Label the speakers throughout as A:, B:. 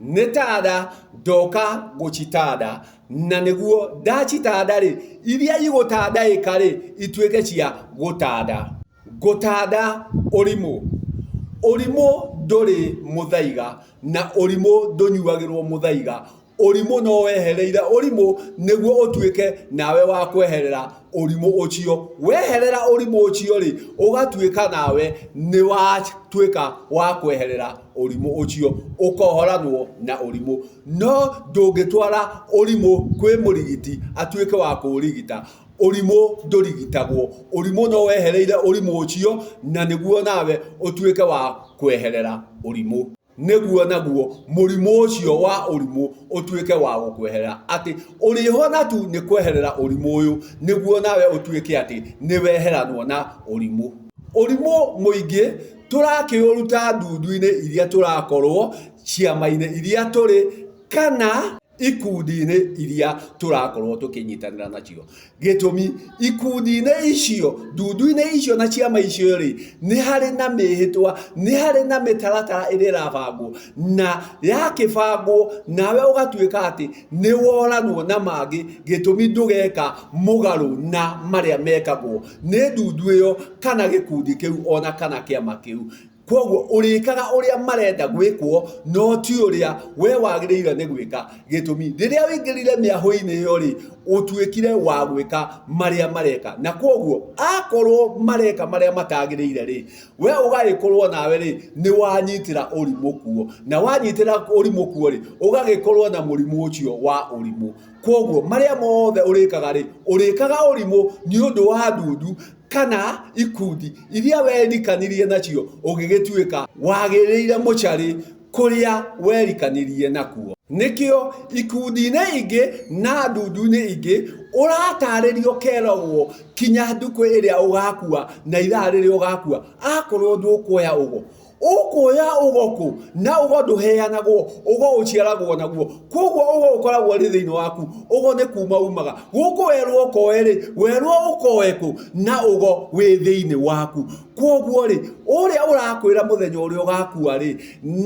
A: nĩ tada ndoka gũcitada na nĩguo ndacitada rĩ iria igũtandaĩka rĩ ituĩke cia gũtanda gũtanda ũrimũ ũrimũ ndũrĩ mũthaiga na ũrimũ ndũnyuagĩrwo mũthaiga ũrimũ no wehereire ũrimũ nĩguo ũtuĩke nawe wa kweherera ũrimũ ũcio weherera ũrimũ ũcio rĩ ũgatuĩka nawe nĩ watuĩka wa kweherera ũrimũ ũcio ũkohoranwo na ũrimũ, no ndũngĩtwara ũrimũ kwĩ mũrigiti atuĩke wa kũũrigita. Ũrimũ ndũrigitagwo, ũrimũ no wehereire ũrimũ ũcio na nĩguo nawe ũtuĩke wa kweherera ũrimũ. Nĩguo naguo mũrimũ ũcio wa ũrimũ ũtuĩke wa gũkweherera, atĩ ũrĩhona tu nĩ kweherera ũrimũ ũyũ nĩguo nawe ũtuĩke atĩ nĩ weheranwo na ũrimũ. Ũrimũ mũingĩ. Tũrakĩũruta ndundu-inĩ iria tũrakorũo, ciama-inĩ iria tũrĩ, kana ikundi-inĩ iria tũrakorũo tũkĩnyitanĩra nacio. Gĩtũmi, ikundi-inĩ icio, ndundu-inĩ icio na ciama icio-rĩ, nĩ harĩ na mĩĩhĩtwa, nĩ harĩ na mĩtaratara ĩrĩa ĩrabangwo, na yakĩbangwo nawe ũgatuĩka atĩ, Nĩ woranwo na mangĩ gĩtũmi ndũgeka mũgarũ na marĩa mekagwo nĩ ndundu ĩyo kana gĩkundi kĩu o na kana kĩama kĩu. Kwoguo ũrĩkaga ũrĩa marenda gwĩkwo no ti ũrĩa we wagĩrĩire nĩ gwĩka gĩtũmi rĩrĩa ũingĩrire mĩahũ-inĩ ĩyo-rĩ, ũtuĩkire wa gwĩka marĩa mareka. Na kwoguo akorwo mareka marĩa matagĩrĩire-rĩ, we ũgagĩkorwo nawe rĩ nĩ wanyitĩra ũrimũ kuo na wanyitĩra ũrimũ kuo rĩ ũgagĩkorwo na mũrimũ ũcio wa ũrimũ kwoguo marĩa mothe ũrĩkaga rĩ ũrĩkaga ũrimũ nĩ ũndũ wa ndundu kana ikundi iria werikanirie nacio ũgĩgĩtuĩka wagĩrĩire mũcarĩ kũrĩa werikanirie nakuo. Nĩkĩo ikundi-inĩ ingĩ na ndundu-inĩ ingĩ ũratarĩrio keragwo kinya ndukũ ĩrĩa ũgakua na ithaa rĩrĩa ũgakua akorwo ndũkuoya ũgo ũkuoya ũgo kũ na ũgo ndũheanagwo ũgo ũciaragwo naguo koguo ũgo ũkoragwo rĩ thĩinĩ waku ũgo nĩ kuma umaga gũkũ werwo ũkoe rĩ werwo ũkoe kũ na ũgo wĩ thĩinĩ waku kwoguo rĩ ũrĩa ũrakwĩra mũthenya ũrĩa ũgakua rĩ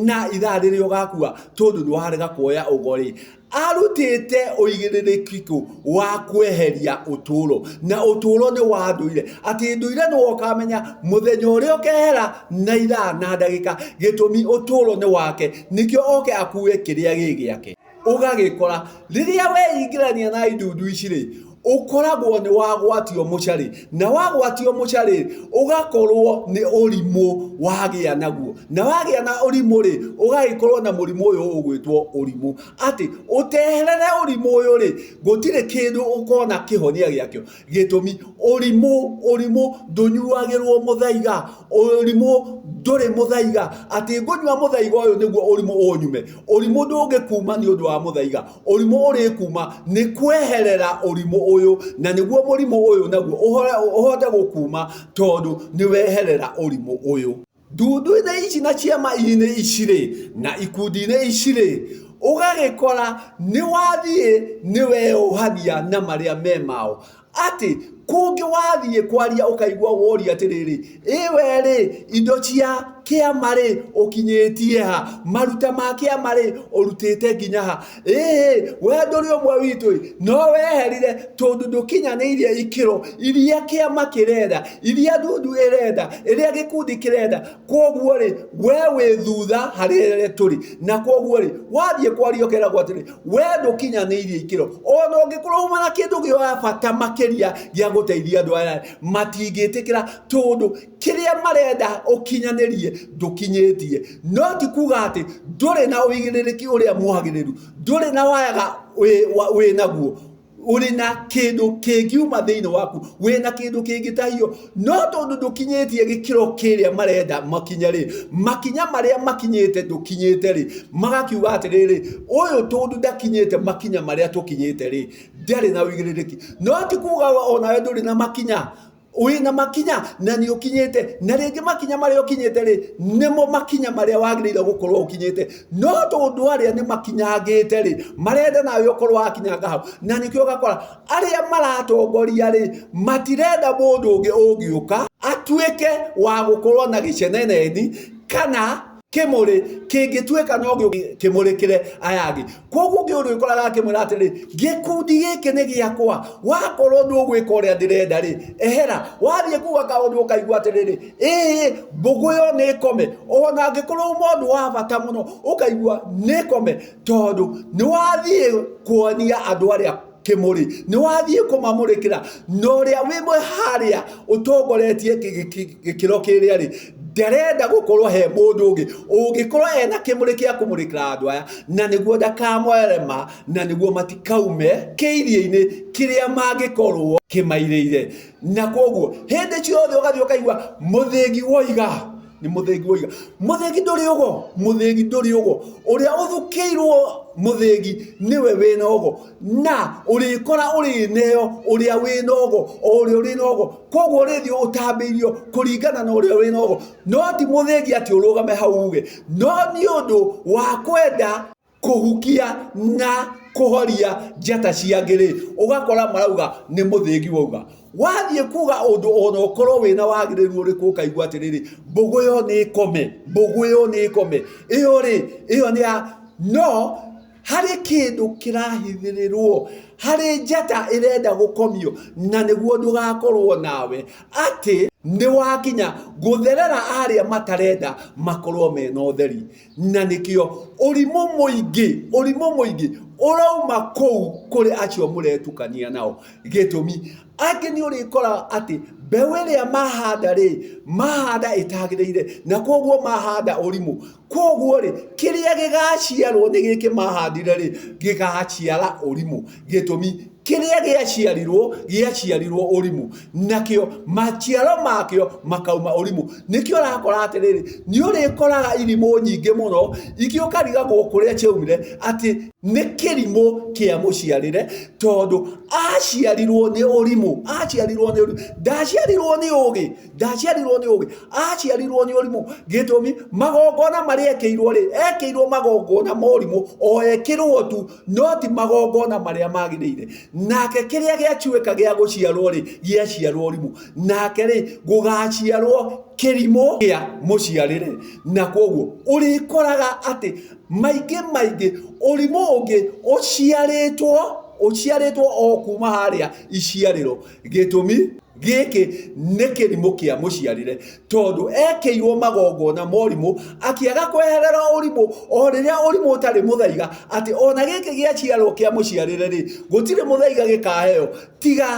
A: na ithaa rĩrĩa ũgakua tondũ nĩ warega kuoya ũgo rĩ arutĩte ũigĩrĩrĩkiko wa kweheria ũtũũro na ũtũũro nĩ wa ndũire atĩ ndũire nĩ wokamenya mũthenya ũrĩa ũkehera na ithaa na ndagĩka gĩtũmi ũtũũro nĩ wake nĩkĩo oke akue kĩrĩa gĩ gĩake ũgagĩkora rĩrĩa weingĩrania na indundu ici rĩ ũkoragwo nĩ wagwatio mũcarĩ na wagwatio mũcarĩ ũgakorwo nĩ ũrimũ wagĩa naguo na wagĩa na ũrimũ rĩ ũgagĩkorwo na mũrimũ ũyũ ũgwĩtwo ũrimũ atĩ ũteherere ũrimũ ũyũ rĩ gũtirĩ kĩndũ ũkona kĩhonia gĩakĩo. Gĩtũmi, ũrimũ, ũrimũ ndũnyuagĩrwo mũthaiga, ũrimũ ndũrĩ mũthaiga, atĩ ngũnyua mũthaiga ũyũ nĩguo ũrimũ ũnyume. Ũrimũ ndũngĩkuma nĩ ũndũ wa mũthaiga, ũrimũ ũrĩkuma nĩ kweherera ũrimũ ũyũ, na nĩguo mũrimũ ũyũ naguo ũhote gũkuma tondũ nĩ weherera ũrimũ ũyũ. Ndundu-inĩ ici na ciama-inĩ ici-rĩ, na ikundi-inĩ ici-rĩ, ũgagĩkora nĩ wathiĩ nĩ weyohania na marĩa me mao. Atĩ, kũngĩ wathiĩ kwaria ũkaigua woria atĩrĩrĩ, ĩ we-rĩ, indo cia kĩama-rĩ, ũkinyĩtie ha? Maruta ma kĩama-rĩ, ũrutĩte nginya ha? ĩĩ we ndũrĩ ũmwe witũ ĩ no weherire tondũ ndũkinyanĩirie ikĩro iria kĩama kĩrenda iria ndundu ĩrenda ĩrĩa gĩkundi kĩrenda kwoguo rĩ we wĩ thutha harĩ rĩrĩa tũrĩ na kwoguo rĩ wathiĩ kwaria ũkeragwo atĩrĩ we ndũkinyanĩirie ikĩro ona ũngĩkorwo uma na kĩndũ gĩa bata makĩria gĩa gũteithia andũ aya matingĩtĩkĩra tondũ Kĩrĩa marenda ũkinyanĩrie ndũkinyĩtie. No ti kuga atĩ ndũrĩ na ũigĩrĩrĩki ũrĩa mwagĩrĩru, ndũrĩ na wayaga wĩ naguo, ũrĩ na kĩndũ kĩngiuma thĩinĩ waku, wĩ na kĩndũ kĩngĩtahio. No tondũ ndũkinyĩtie gĩkĩro kĩrĩa marenda makinye rĩ, makinya marĩa makinyĩte ndũkinyĩte rĩ, magakiuga atĩrĩrĩ, ũyũ tondũ ndakinyĩte makinya marĩa tũkinyĩte rĩ, ndarĩ na ũigĩrĩrĩki. No ti kuga o nawe ndũrĩ na makinya ũrĩ na makinya na nĩ ũkinyĩte na rĩngĩ makinya marĩa ũkinyĩte rĩ nĩmo makinya marĩa wagĩrĩire gũkorwo ũkinyĩte no tondũ arĩa nĩ makinyangĩte rĩ marenda nawe ũkorwo wakinyanga hau na nĩkĩo ũgakora arĩa maratongoria rĩ matirenda mũndũ ũngĩ ũngĩũka atuĩke wa gũkorwo na gĩceneneni kana kimuri kingituika no kimurikire aya angi koguo ngi uri ukoraga akimwira atiri gikundi giki ni giakwa wakorwo ni ugwika uria ndirenda ri ehera wathie kuga kaundu ukaigua atiriri ii mbugu yo ni ikome ona angikorwo mundu wa bata muno ukaigua ni ikome tondu ni wathie kuonia andu aria Kĩmũrĩ, nĩ wathiĩ kũmamũrĩkĩra na ũrĩa wĩ harĩa ũtongoretie gĩkĩro kĩrĩa rĩ, ndarenda gũkorwo he mũndũ ũngĩ ũngĩkorwo ena kĩmũrĩ kĩa kũmũrĩkĩra andũ aya, na nĩguo ndakamoere ma, na nĩguo matikaume kĩiria-inĩ kĩrĩa mangĩkorwo kĩmairĩire. Na koguo hĩndĩ ciothe ũgathiĩ ũkaigua mũthĩgi woiga. nĩ mũthĩgi woiga mũthĩgi ndũrĩ ũgo mũthĩgi ndũrĩ ũgo ũrĩa ũthukĩirwo mũthĩgi nĩwe wĩna ũgo na ũrĩkora ũrĩneo ũrĩa wĩna ũgo o ũrĩa ũrĩ na ũgo koguo ũrĩthiĩ ũtambĩirio kũringana na ũrĩa wĩna ũgo no ti mũthĩgi atĩ ũrũgame hau uge no nĩ ũndũ wa kwenda kũhukia na kũhoria njata cia angĩ rĩ, ũgakora marauga nĩ mũthĩgi wauga. Wathiĩ kuga ũndũ ona ũkorwo wĩna wagĩrĩru ũrĩkũ ũkaigua atĩrĩrĩ, mbũgũ ĩyo nĩ ĩkome, mbũgũ ĩyo nĩ ĩkome. Ĩyo rĩ, ĩyo nĩ ya, no harĩ kĩndũ kĩrahithĩrĩrwo, harĩ njata ĩrenda gũkomio na nĩguo ndũgakorwo nawe atĩ nĩwakinya gũtherera arĩa matarenda makorwo mena ũtheri. na nĩkĩo ũrimũ mũingĩ ũrimũ mũingĩ ũrauma kũu kũrĩ acio mũretukania nao gĩtũmi angĩ nĩ ũrĩkora atĩ mbeũ ĩrĩa mahanda rĩ mahanda ĩtagĩrĩire na koguo mahanda ũrimũ koguo rĩ kĩrĩa gĩgaciarwo nĩ gĩkĩ mahandire rĩ gĩgaciara ũrimũ. Gĩtũmi, kĩrĩa gĩaciarirwo gĩaciarirwo ũrimũ, nakĩo maciaro makĩo makauma ũrimũ. Nĩkĩo ũrakora atĩrĩrĩ, nĩũrĩkoraga irimũ nyingĩ mũno igĩũkarigagwo kũrĩa ciaumire atĩ nĩ kĩrimũ kĩa mũciarĩre, tondũ aciarirwo nĩ ũrimũ, aciarirwo nĩ ũrimũ, ndaciarirwo nĩ ũgĩ, ndaciarirwo nĩ ũgĩ, aciarirwo nĩ ũrimũ. Gĩtũmi, magongona marĩa ekĩirwo-rĩ, ekĩirwo magongona ma ũrimũ, o ekĩrwo tu no ti magongona marĩa magĩrĩire nake kĩrĩa gĩacuĩka gĩa gũciarwo rĩ gĩaciarwo rimũ nake rĩ gũgaciarwo kĩrimũ gĩa mũciarĩre na kwoguo ũrĩkoraga atĩ maingĩ maingĩ ũrimũ ũngĩ ũciarĩtwo ũciarĩtwo o kuma harĩa iciarĩro Gĩtũmi, gĩkĩ nĩ kĩrimũ kĩa mũciarĩre tondũ ekĩirwo magongona morimũ akĩaga kweherera ũrimũ o rĩrĩa ũrimũ ũtarĩ mũthaiga atĩ ona gĩkĩ gĩaciarwo kĩa mũciarĩre rĩ gũtirĩ mũthaiga gĩkaheo tiga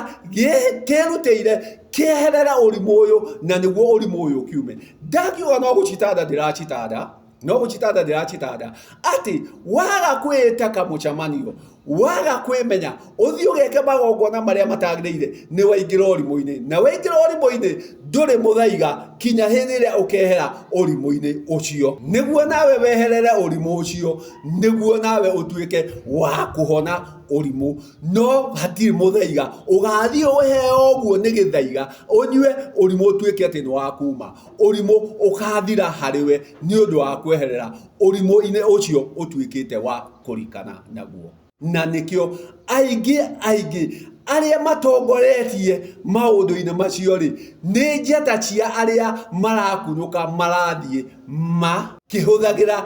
A: kĩrutĩire kĩeherere ũrimũ ũyũ na nĩguo ũrimũ ũyũ ũkiume. Ndakiuga no gũcitanda ndĩracitanda. noguchitada ndirachitada ati wagakwĩta kamũchamanio waga kwĩmenya ũthiĩ ũgeke magongona marĩa matagĩrĩire nĩ waingĩra ũrimũ-inĩ na waingĩra ũrimũ-inĩ ndũrĩ mũthaiga kinya hĩndĩ ĩrĩa ũkehera ũrimũ-inĩ ũcio nĩguo nawe weherere ũrimũ ũcio nĩguo nawe ũtuĩke wa kũhona ũrimũ no hatirĩ mũthaiga ũgathiĩ ũheo ũguo nĩ gĩthaiga ũnyue ũrimũ ũtuĩke atĩ nĩ wakuma ũrimũ ũkaathira harĩ we nĩ ũndũ wa kweherera ũrimũ-inĩ ũcio ũtuĩkĩte wa kũrikana naguo. Na nĩkĩo aingĩ aingĩ arĩa matongoretie maũndũ-inĩ macio-rĩ, nĩ njata cia arĩa marakunũka marathiĩ ma. kĩhũthagĩra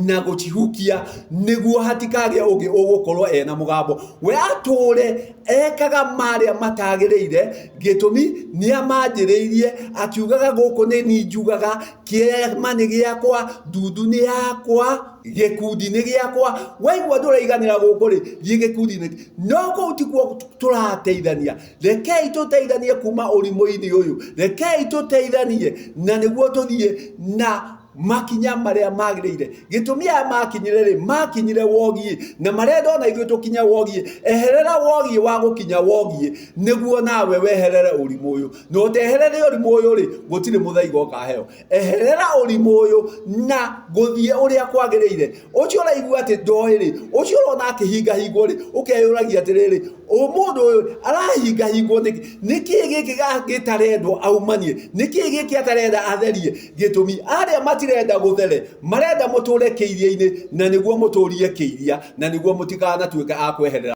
A: na gũcihukia nĩguo hatikagĩa ũngĩ ũgũkorwo ena mũgambo we atũũre ekaga marĩa matagĩrĩire gĩtũmi nĩ amanjĩrĩirie akiugaga gũkũ nĩ ni njugaga kĩama nĩ gĩakwa ndundu nĩ yakwa gĩkundi nĩ gĩakwa waigua ndũraiganĩra gũkũ rĩ thiĩ gĩkundi-inĩ no kũu tikuo tũrateithania rekei tũteithanie kuma ũrimũ-inĩ ũyũ rekei tũteithanie na nĩguo tũthiĩ na makinya marĩa magĩrĩire gĩtũmi aya makinyire rĩ makinyire wogiĩ na marĩa ndona ithuĩ tũkinya wogiĩ eherera wogiĩ wa gũkinya wogiĩ nĩguo nawe weherere ũrimũ ũyũ na ũteherere ũrimũ ũyũ rĩ gũtirĩ mũthaiga ũkaheo eherera ũrimũ ũyũ na gũthiĩ ũrĩa kwagĩrĩire ũcio ũraigua atĩ ndoĩ rĩ ũcio ũrona akĩhingahingwo rĩ ũkeyũragia atĩrĩrĩ mũndũ ũyũ arahingahingwo nĩkĩ nĩkĩ gĩkĩ gĩtarendwo aumanie nĩkĩ gĩkĩ atarenda atherie Gĩtũmi, arĩa matirenda gũthere marenda mũtũũre kĩiria-inĩ, na nĩguo mũtũũrie kĩiria, na nĩguo mũtikanatuĩke a kweherera.